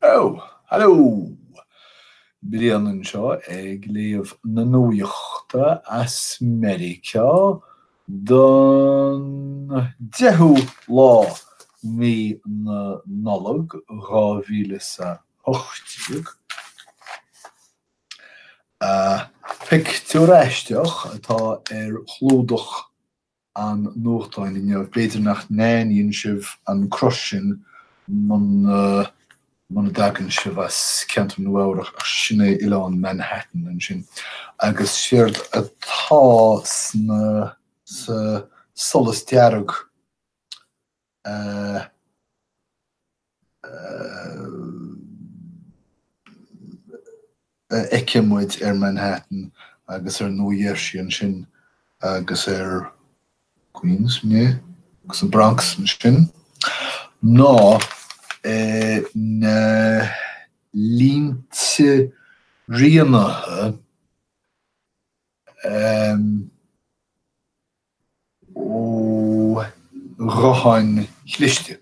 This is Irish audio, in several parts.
Ó! Haló! Brian anseo ag léamh na nuachta as Meiriceá don deichiú lá mí na Nollag dhá mhíle is a hocht déag. Pictiúr aisteach atá ar chlúdach an nuachtáin inniu, b'fhéidir nach n-aithníonn sibh an cruth sin muna muna dtagann sibh as ceantar Nua-Eabhrac, ach sin é oileán Manhattan ansin. Agus séard atá sa solas dearg a fheiceann muid ar Manhattan agus ar Nua Gheirsí ansin agus ar Queens, agus an Bronx ansin, ná na línte rianaithe, ó ghutháin chliste.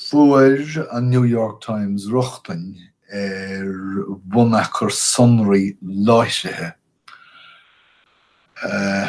Fuair an New York Times rochtain ar bhunachar sonraí láithrithe na.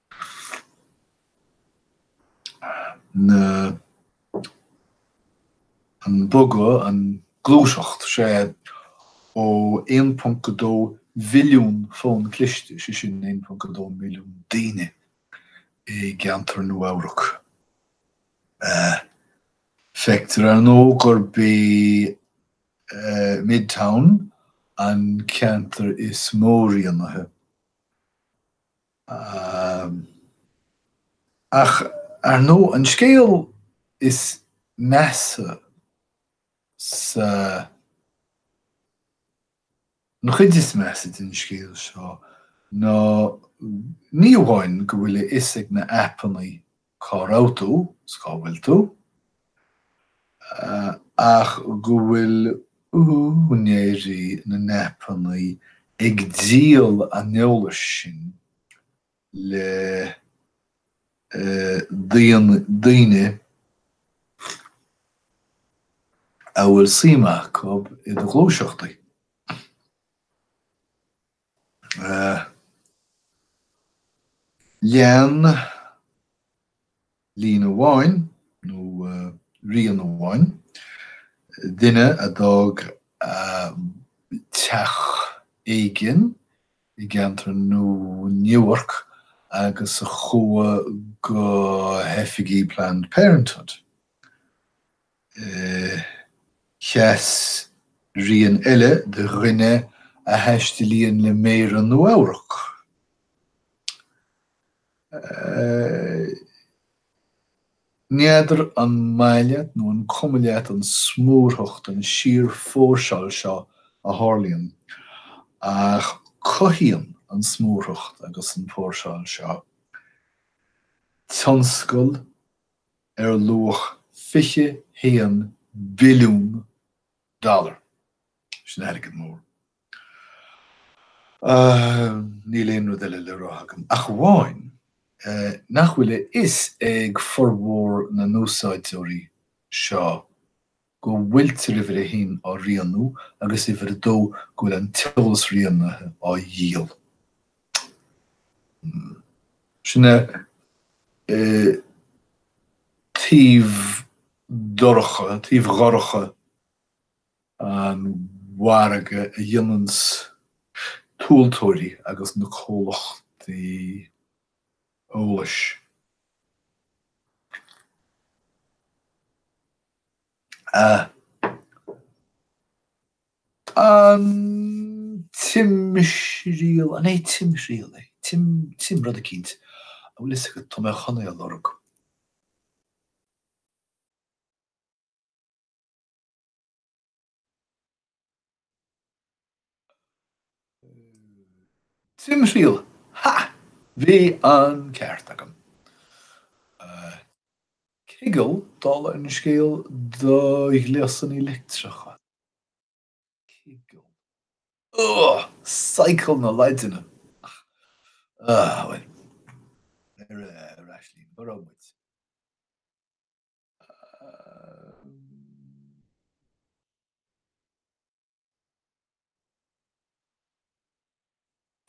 na an bogadh, an gluaiseacht, sé, ó 1.2 mhilliún fón cliste, sé sin 1.2 milliún duine i gceantar Nua-Eabhrac. Feictear, ar ndóigh, gurb é Midtown an ceantar is mó rianaithe. Ach ar ndóigh, an scéal is measa sa, an chuid is measa den scéal seo ná ní amháin go bhfuil a fhios ag na haipeannaí cá raibh tú, 's cá bhfuil tú, ach go bhfuil úinéirí na n-aipeannaí ag díol an eolais sin le daoine a bhfuil suim acu i do ghluaiseachtaí. Lean líne amháin, nó rian amháin, duine a d'fhág a teach éigin i gceantar Newark agus a chuaigh go hoifigí Planned Parenthood. Sheas rian eile do dhuine a thaistilíonn le méara Nua-Eabhrac. N'fheadar an maith leat nó an cuma leat an smúrthacht, an síorphóirseáil seo a tharlaíonn, ach cothaíonn an smúrthacht agus an póirseáil seo tionscal, ar luach 21 billiún dollar, sin airgead mór, ach níl aon rud eile le rá agam ach amháin nach bhfuil a fhios ag formhór na n-úsáideoirí seo go bhfuiltear uimhir a haon á rianú agus uimhir a dó go bhfuil an t-eolas rianaithe á dhíol. Hmm. Sin é. An taobh dorcha, taobh dhorcha an mhargaidh a ghineanns tomhaltóirí agus na comhlachtaí eolais, An timthriall, an é timthriall é? Tim, tim rud eicínt. An bhfuil fhios agat, tá mé chun é a lorg. Timthriall, ha! Bhí an ceart agam. Ciogal, dála an scéil, do ghléasanna leictreacha. Ciogal. Ugh! Cycle na Laidine! Ach. Ah, bhuel. Ar ais linn. Cá raibh muid?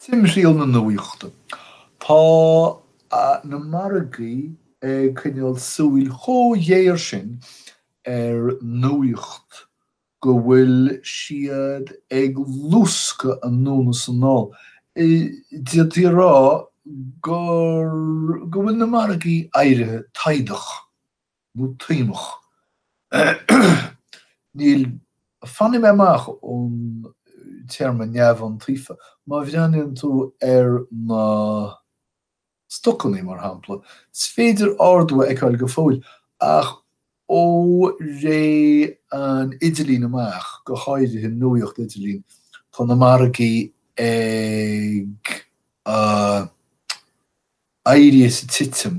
Timthriall na Nuaíochta Tá na margaí ag coinneáil súil chomh géar sin ar nuaíocht go bhfuil siad ag luascadh anonn is anall, d'fhéadfaí a rá gur, go bhfuil na margaí éirithe taghdach, nó taomach. Níl, fanfaidh mé amach ón téarma 'neamhiontaofa'. Má bhreathnaíonn tú ar na. Stocanna, mar shampla, is féidir ardú a fheiceáil go fóill, ach ó ré an idirlín amach, go háirithe nuaíocht idirlín, tá na margaí ag éirí is ag titim.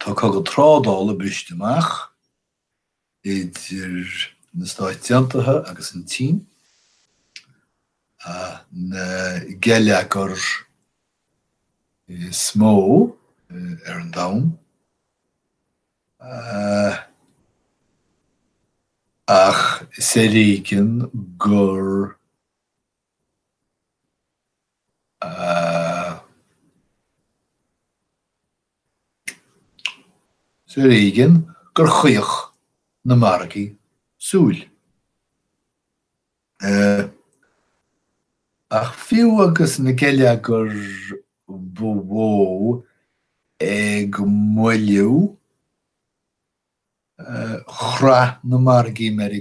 Tá cogadh trádála briste amach idir na Stáit Aontaithe agus an tSín, na geilleagair is mó ar an domhan, ach is ar éigean gur. Is ar éigean gur chaoch na margaí súil. Ach fiú agus na geilleagair ba mhó ag moilliú, chroith na margaí Meiri.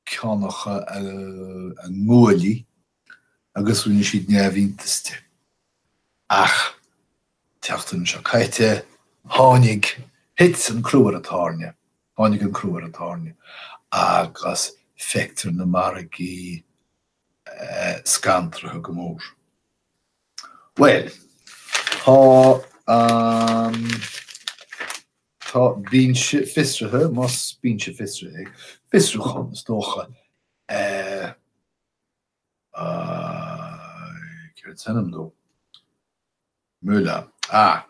ceánacha a nguaillí agus rinne siad neamhiontas de. Ach tseachtain seo caite, tháinig, thit an crú ar an tairne, tháinig an crú ar an tairne agus feictear na margaí scantraithe go mór. Bhuel, tá an. Tá binse fiosraithe, más binse fiosraithe é, fiosrúchán is dócha, aye, céard is ainm dó? Mueller, ah,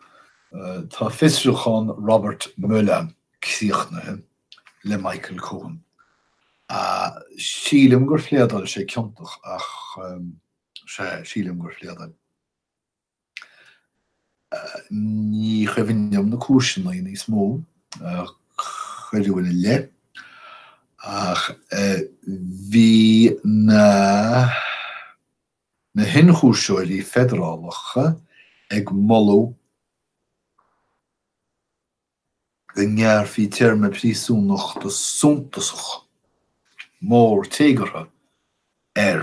tá fiosrúchán Robert Mueller críochnaithe le Michael Cohen. Sílim gur phléadáil sé ciontach ach, sea, sílim gur phléadáil. Ní chuimhin liom na cúiseanna níos mó a cuireadh ina leith, ach bhí na hionchúisitheoirí feidearálacha ag moladh go ngearrfaí téarma príosúnachta suntasach, mór, téagartha air.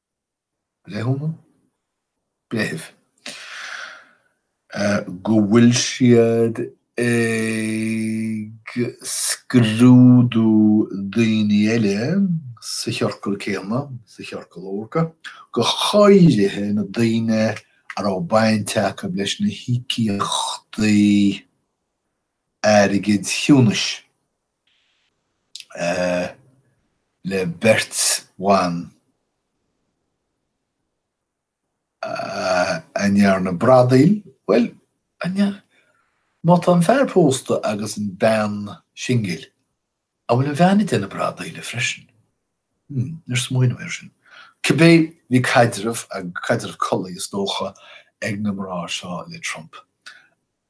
Breithiúna? Breithimh. go bhfuil siad ag scrúdú daoine eile sa chiorcal céanna, sa chiorcal órga, go háirithe na daoine a raibh baint acu leis na híocaíochtaí airgid chiúnais. le beirt bhan a ndearna bradaíl, bhuel, má tá an fear pósta agus an bhean singil, an bhfuil an bhean ag déanamh bradaíle freisin? Hmm, níor smaoinigh mé air sin. Cibé, bhí caidreamh, caidreamh collaí is dócha, ag na mná seo le Trump.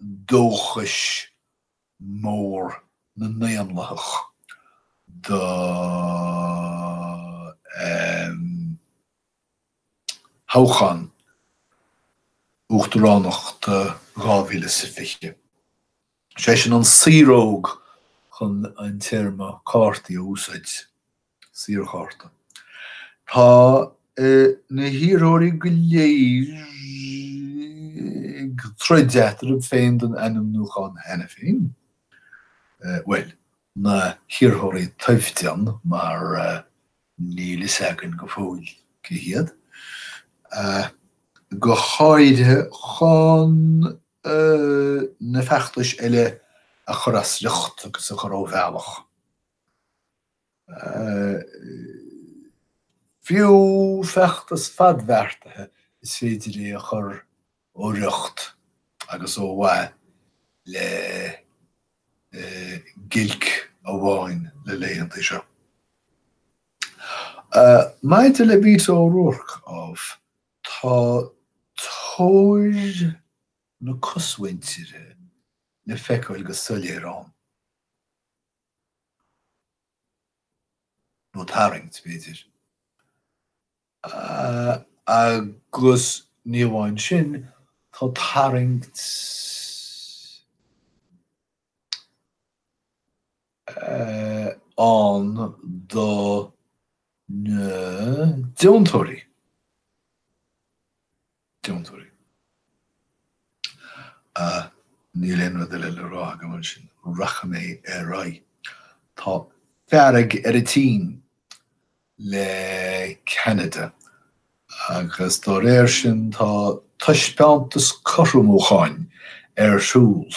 dóchais mór na nDaonlathach do thoghchán uachtaránachta 2020. Is eisean an saoróg chun an téarma cártaí a úsáid. Saorchárta. Tá na hiarrthóirí go léir ag troid eatarthu féin don ainmniúchán cheana féin, bhuel, na hiarrthóirí toimhdean mar níl a fhios againn go fóill cé hiad, go háirithe chun na feachtais eile a chur as riocht agus a chur ó bhealach. Fiú feachtas fadbheartaithe is féidir é a chur ó riocht agus ó mhaith le giolc amháin na laethanta seo. Maidir le Beto O'Rourke, ámh, tá tóir na cosmhuintire le feiceáil go soiléir ann. nó tarraingt, b'fhéidir. Agus ní amháin sin, tá tarraingt ann do na deontóirí. deontóirí. Ah, níl aon rud eile le rá agam ansin, rachaidh mé ar aghaidh. Tá fearg ar an tSín le Ceanada agus dá réir sin tá taispeántas cothromúcháin ar siúl.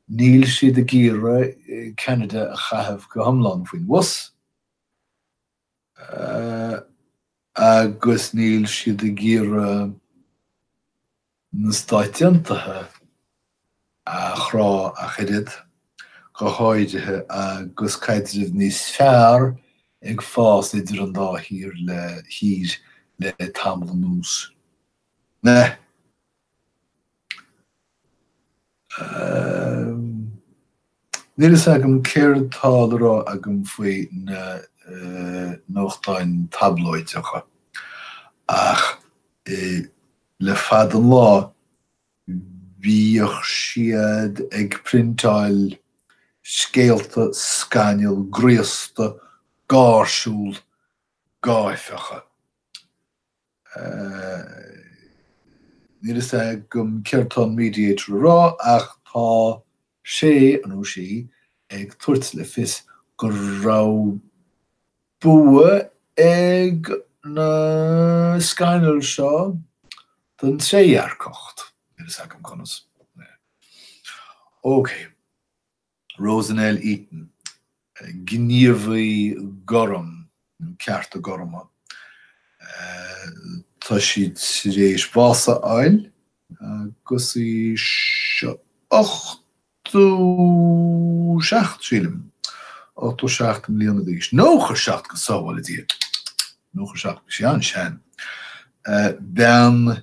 Níl siad ag iarraidh Ceanada a chaitheamh go hiomlán faoin bhus. agus níl siad ag iarraidh na Stáit Aontaithe a chrá ach oiread, go háirithe agus caidreamh níos fearr ag fás idir an dá thír le tamall anuas. Níl a fhios agam céard tá le rá agam faoi na nuachtáin tablóideacha ach le fada an lá bhíodh siad ag priontáil scéalta scannail, graosta, gáirsiúil, gáifeacha. Níl a fhios agam céard tá an Mediator a rá ach tá sé nó sí ag tabhairt le fios go raibh bua ag na scannail seo don trédhearcacht. Níl a fhios agam conas. OK. Rosanell Eaton, gníomhaí gorm, nó cearta gorma, tá sí tar éis bás a fháil agus í ochtó seacht, sílim, ochtó seacht mbliana d'aois, nócha seacht go sábhála Dia, nócha seacht, bhí sí an-sean, bean.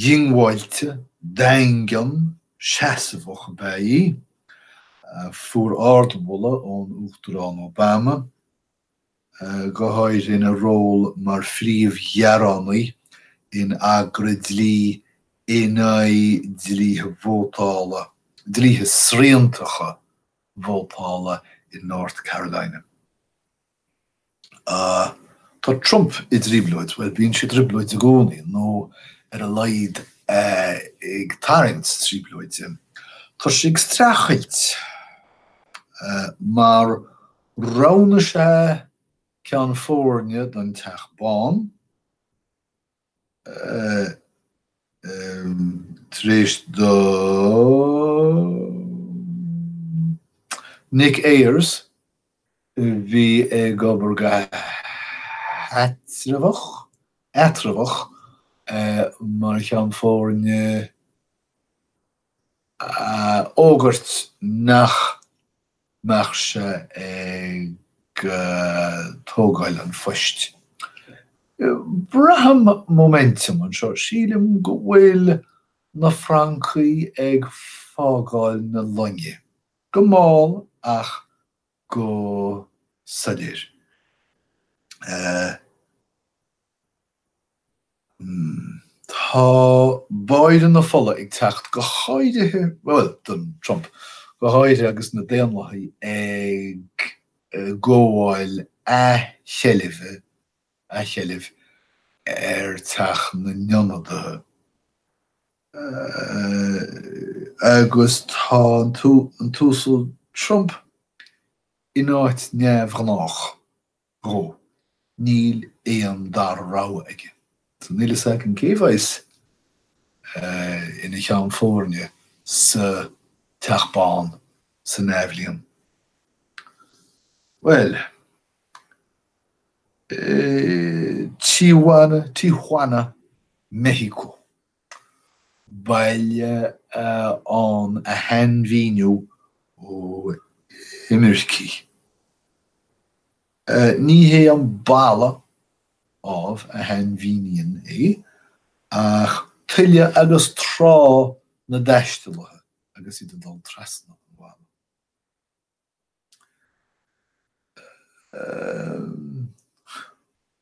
Diongbháilte, daingean, seasmhach ab ea í, a fuair ardmholadh ón Uachtarán Obama, go háirithe ina ról mar phríomh-ghearánaí in eagra dlí in aghaidh dlíthe vótála, dlíthe sriantacha vótála in North Carolina. Ah, tá Trump i dtrioblóid, bhuel, bíonn sé i dtrioblóid i gcónaí, nó ar a laghad ag tarraingt trioblóide. Tá sé ag streachailt, mar roghnú sa ceann foirne don Teach Bán, tar éis do Nick Ayers, a bhí ag obair go heatramhach, eatramhach mar cheann foirne, a fhógairt nach mbeadh sé ag tógáil an phoist. Braithim móiminteam anseo, sílim go bhfuil na francaigh ag fágáil na loinge, go mall ach go soiléir. Tá báire na fola ag teacht, go háirithe, bhuel, don Trump, go háirithe agus na Daonlathaigh ag gabháil athsheilbhe, athsheilbh, ar Teach na nIonadaithe. Agus tá an tUasal Trump in áit neamhghnách. Go, níl aon dara rogha aige. So níl fhios againn cé bheas ina cheann foirne sa Teach Bán san athbhliain. Bhuel, Tijuana, Tijuana, Mexico, baile arna shainmhíniú ó imircigh. Ní hé an balla, ámh, a shainmhíníonn é, ach tuile agus trá na dtaistealaithe agus iad ag dul trasna an bhalla.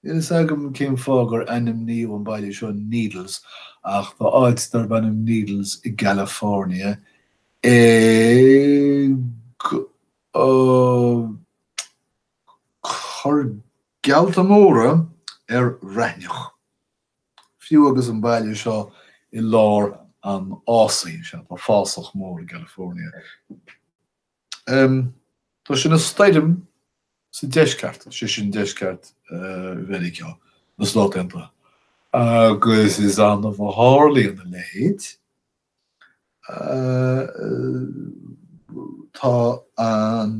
Níl a fhios agam cén fáth gur ainmníodh an baile seo Needles, ach tá áit darb ainm Needles i gCalifornia ag cur geallta móra ar raithneach, fiú agus an baile seo i lár an fhásaigh. Sea, tá fásach mór i gCalifornia. Tá sé ina stoirm sa deisceart, sé sin deisceart Mheiriceá, na Stát Aontaithe, agus is annamh a tharlaíonn a leithéid. Tá an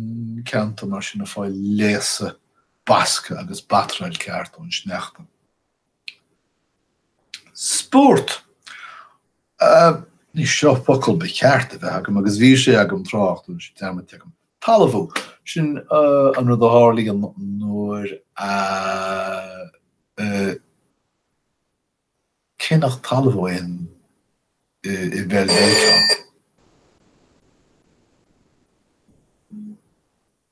ceantar mar sin ag fáil léasadh, bascadh agus batráil ceart ón sneachta. Spórt. Anois seo focal ba cheart a bheith agam agus bhí sé agam tráth ach tá sé dearmadta agam. Talmhú. Sin an rud a tharlaíonn nuair a, cé nach talmhú é i bpeil Mheiriceá.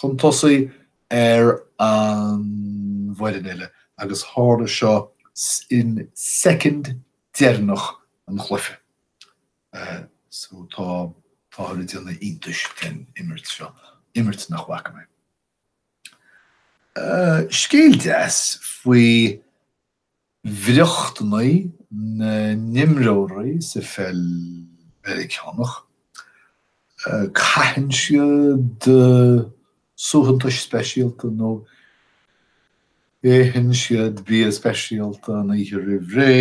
chun tosaigh ar an bhfoireann eile agus tharla seo in soicind deireanach an chluiche. So tá táthar ag déanamh iontais den imirt seo, imirt nach bhfaca mé. Scéal deas faoi. bhriochtanna na n-imreoirí sa pheil Mheiriceánach, caitheann siad suaitheantais speisialta nó itheann siad bia speisialta an oíche roimh ré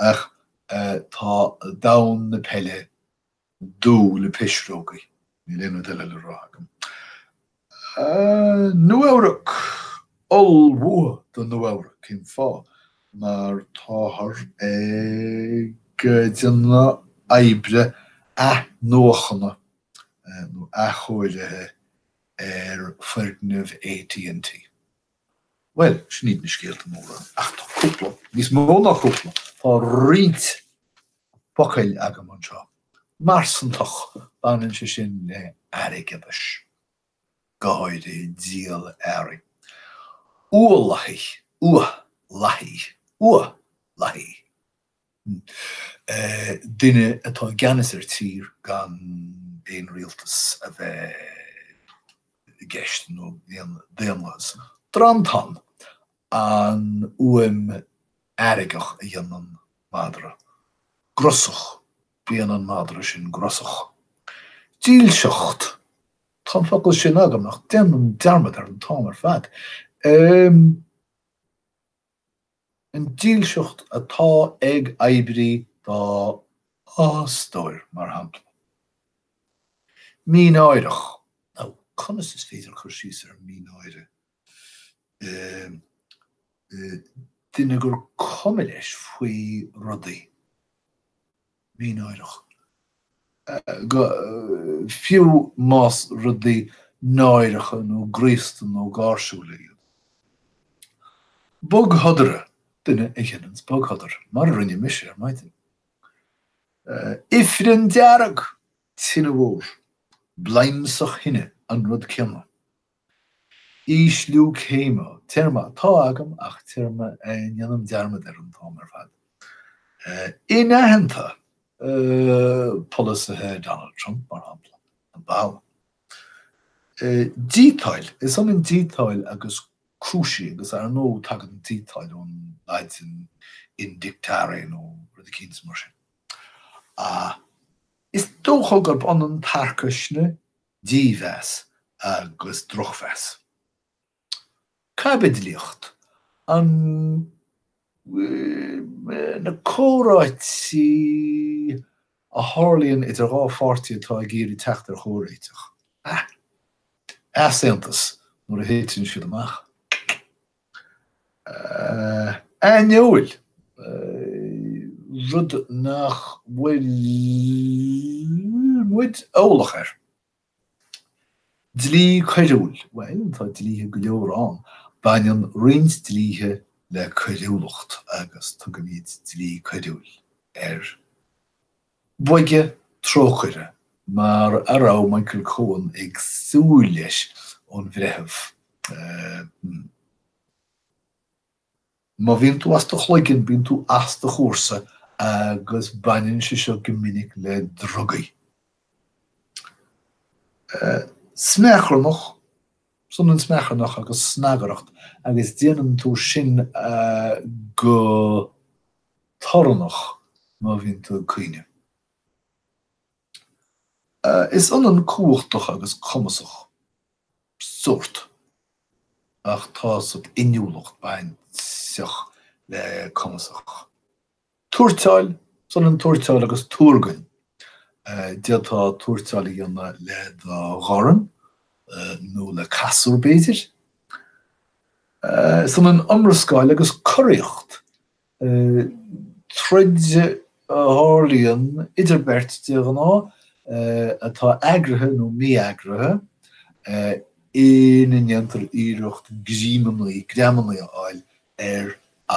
ach tá domhan na peile, dubh le pisreogaí. Níl aon rud eile le rá agam. Nua-Eabhrac, ullmhú do Nua-Eabhrac, cén fáth? Mar táthar ag déanamh oibre athnuachana nó athchóirithe ar foirgneamh AT&T. Bhuel, sin iad na scéalta móra, ach tá cúpla, níos mó ná cúpla, tá roinnt focail agam anseo, marsantach, baineann sé sin le airgeadas, go háirithe díol earraí. Uathlathaí, uath lathaí, uath lathaí. duine atá i gceannas ar tír gan aon rialtas a bheith i gceist, nó aon daonlathas. Drantán, an fhuaim fheargach a dhéanann madra. Grusach, bíonn an madra sin grusach. Dílseacht, tá an focal sin agam, ach déanaim dearmad air an t-am ar fad. An dílseacht atá ag oibrí dá fhostóir, mar shampla. Mínáireach. Ó, conas is féidir cur síos ar mhínáire? Duine gur cuma leis faoi rudaí. mínáireach. Go fiú más rudaí náireacha nó graosta nó gáirsiúla iad. Bogshodar, duine a dhéanann bogshodar, mar a rinne mise ar maidin. Ifreann dearg! Tine mhór, bladhmsach thine, an rud céanna. Ísliú céime, téarma atá agam ach téarma a ndéanaim dearmad air an t-am ar fad. Inaitheanta polasaithe Donald Trump, mar shampla, na baill. Díotáil, is ionann díotáil agus cúisiú agus ar ndóigh tagann díotáil ón Laidin indictare nó rud eicínt mar sin. Is dócha gurb ionann tarcaisne Dímheas agus drochmheas. Caibidlíocht. Na comhráití a tharlaíonn idir dhá pháirtí atá ag iarraidh teacht ar chomhréiteach, easaontas nuair a thiteann siad amach, aineoil, rud nach bhfuil muid eolach air. Dlí coiriúil, bhuel, tá dlíthe go leor ann, baineann roinnt dlíthe le coiriúlacht agus tugaimid dlí coiriúil air. Boige, trócaire mar a raibh Michael Cohen ag súil leis ón bhreitheamh. Má bhíonn tú as do chloigeann, bíonn tú as do chúrsa agus baineann sé seo go minic le drugaí. Smeacharnach, is ionann smeacharnach agus snagaireacht agus déanann tú sin go. torannach má bhíonn tú ag caoineadh. Is ionann cumhachtach agus cumasach, sórt, ach tá sórt inniúlacht bainteach le cumasach. Tuairteáil, is ionann tuairteáil agus tuargain. D'fhéadfá tuairteáil a dhéanamh le do dhorn nó le casúr, b'fhéidir. Is ionann iomrascáil agus coraíocht. Troid a tharlaíonn idir beirt, de ghnáth, atá eagraithe nó mí-eagraithe, ina ndéantar iarracht greamanna, greamanna a fháil ar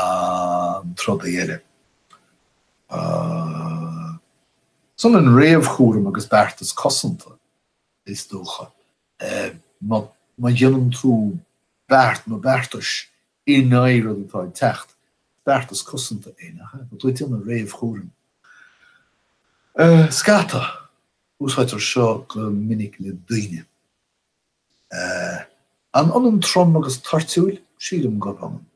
an trodaí eile. Is ionann réamhchúram agus beartas cosanta, is dócha. Má dhéanann tú beart nó beartas in aghaidh rud atá ag teacht. Beartas cosanta é, nach ea? Go dtugtar réamhchúram air. Scata. Úsáidtear seo go minic le daoine. An ionann trom agus toirtiúil? Sílim gurb ionann.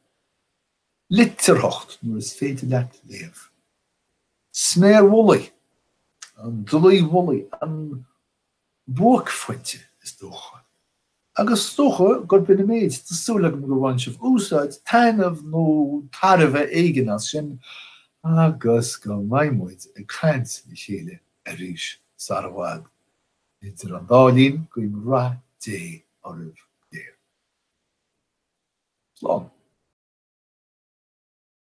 Litearthacht, nuair is féidir leat léamh. Sméar mhullaigh. An dlaoi mhullaigh. An. buaicphointe, is dócha. Agus is dócha gurb in an méid, tá súil agam gur bhain sibh úsáid, taitneamh nó tairbhe éigin as sin agus go mbeidh muid ag caint le chéile arís sara bhfad. Idir an dá linn, guím rath Dé oraibh go léir. Slán.